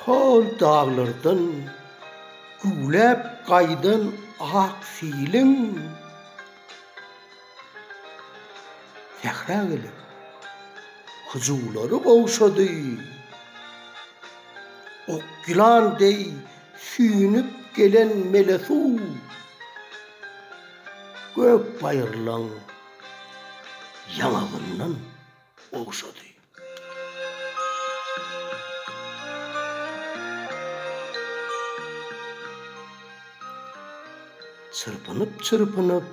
Hol daglardan güwläp gaýdan ak siliň sähra gelip hyjuwlary gowşady. Ok ýylan deý süýnüp gelen mele suw. Gök baýyrlaň ýaňagyndan ogşady. Çyrpynyp-çyrpynyp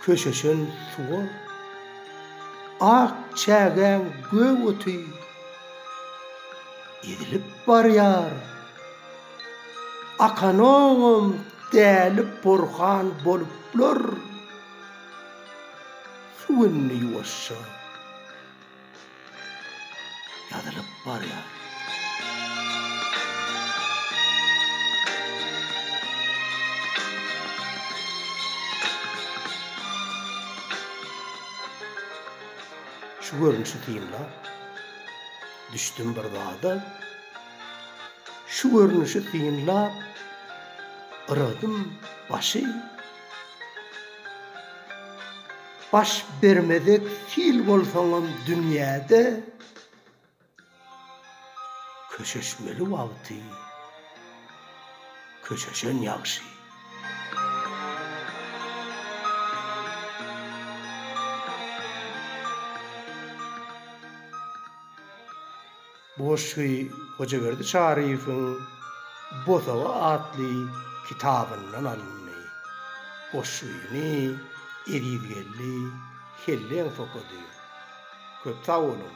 köşeşen suwa ak çägäň gök oty ezilip barýar. Akanoňam däli porhan boluplar. Şu günde ýuwaşja ýazylyp barýar. Şu görnüşi synlap düşdüm bir zada. Şu görnüşi synlap yrgdym başy. Baş bermezek sil bolsaňam dünýäde, Köşeşmeli wagty köşeşen ýagşy. Bu goşgy Hojaberdi Çaryýewiň Bosagy atly kitabyndan alyndy. Goşgyny Ezizgeldi Helleňs okady. Köp sag boluň!